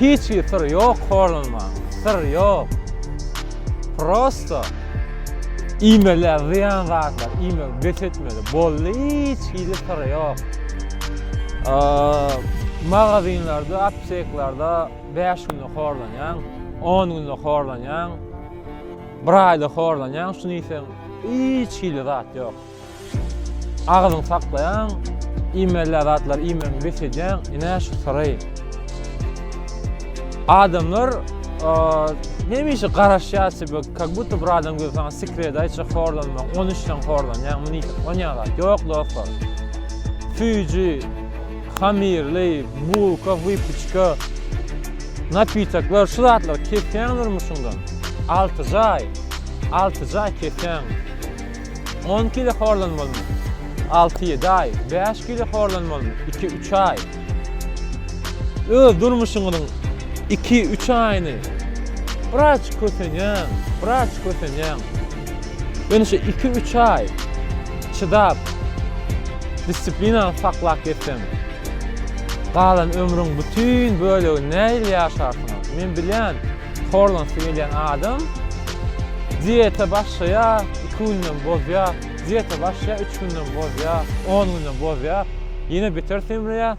Hiç bir syr ýok horlanmaň syr ýok prosto iýmeler zyýan zatlar iýmegi bes etmeli boldy hiç hili syr ýok magazinlerde apteklerde bäş günde horlanýaň on günde horlanýaň bir aýda horlanýaň şuny iýseň hiç hili zat ýok. Agyzyňy saklaýaň, iýmelýän zatlary iýmegini bes edýäň, ine şu syry. Adamlar hemişe garaşýar sebe, kak buta bir adam gelip saňa sekret aýtsa horlanma, on üçden horlanýaň, muny ýitip onýaň zat. Ýok dostlar. Süýji, hamirli, bulka, wypiçka, napitaklar şu zatlar kesýäň durmuşyňdan. Alty jaý, alty jaý kesýäň. On kile horlanmalymy? Alty-ýedi aý. Bäş kile horlanmalymy? Iki-üç aý. Öz durmuşyňyzyň iki-üç aýyny biraz kösenýäň, biraz kösenýäň. Ýöne şu iki-üç aý çydap, dissiplinany saklap gezseň, galan ömrüň bütin bölegini nähili ýaşarsyňyz? Men bilýän. Horlan suw elýän adam dieta başlaýa, iki günden bozýa, dieta başlaýa, üç günden bozýa, on günden bozýa, ýene beter semreýä,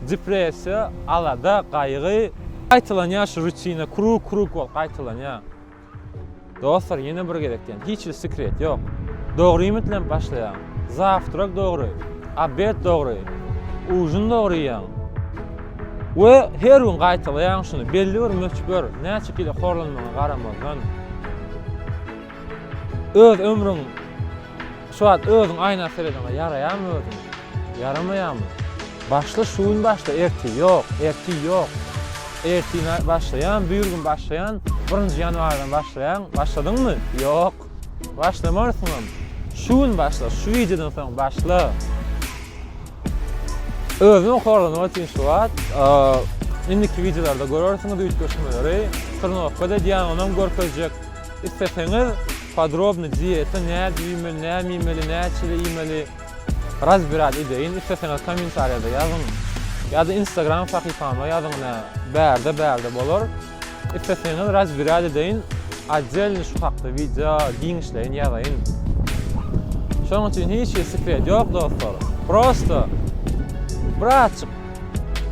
depressiýa, alada, gaýgy, gaýtalanýa şu rutina, krug krug bolup gaýtalanýa. Dostlar ýene bir gezek diýen, hiç bir sekret ýok. Dogry iýmit bilen başlaýaň. Zawtrak dogry, obed dogry, ujin dogry iýäň. We her gün gaýtalaýaň şuny, belli bir möçber, näçe kilo horlanmagyňa garamazdan, öz ömrüň şu wagt özüň aýna serediňä ýaraýamy özüň, ýaramaýamy? Başla şu gün başla ertir ýok, ertir ýok. Ertir başlaýan, bürgün başlaýan, birinji ýanwardan başlaýan, başladyňmy? Ýok. Başlamarsyňam. Şu gün başla, şu wideodan soň başla. Özüňi horlamak üçin şu wagt indiki wideolarda görersiňiz üýtgeşmeleri. Trnowka da diýýän onam görkezjek. Isleseňiz podrobny diýete nädip iýmeli, näme iýmeli, näçede iýmeli razbirad edeýin. Isleseňiz kommentariýada ýazyň. Ýa-da Instagram sahypama ýazyň, bärde-bärde bolar. Isleseňiz razbirad edeýin, otdelny şu hakda wideo giňişleýin ýazaýyn. Şonuň üçin hiç hili sekret ýok dostlar. Prosto bir azçyk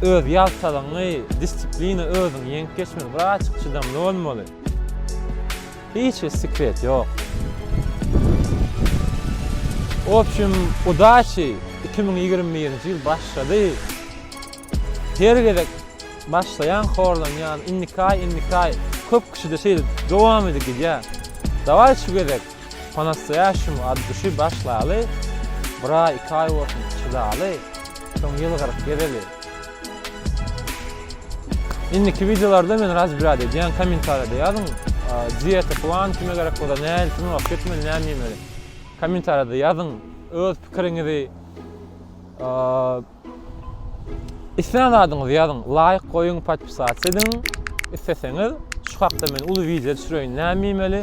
öz ýaltalygyňy, disiplina özüňi ýeňip geçmeli, bir azçyk çydamly bolmaly. Hiç hili sekret ýok. W opşim udaçi, iki müň ýigrimi birinji ýyl başlady. Her gezek Başlaýan horlanýan indikaý indikaý köp kişide şeýle dowam edip gidýä daway şu gezek po nastoýaşemu od duşy başlaly bir aý iki aý bolsun çydaly soň ýylgyryp gezeli indiki wideolarda men razbrýad edýän kommentariýada ýazyň diýete plan kime gerek bolsa nädip trenowatka etmeli näme iýmeli kommentariýada ýazyň öz pikiriňizi. Islän zadyňyzy ýazyň, laýk goýuň, podpisatsa ediň. Isleseňiz, şu hakda men uly wideo düşüreýin, näme iýmeli,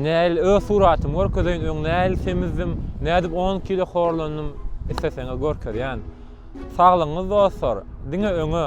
näl öz suratymy görkezeýin, öň näl semizdim, nädip on kilo horlandym, isleseňiz görkezýän. Saglygyňyz dostlar, diňe öňe!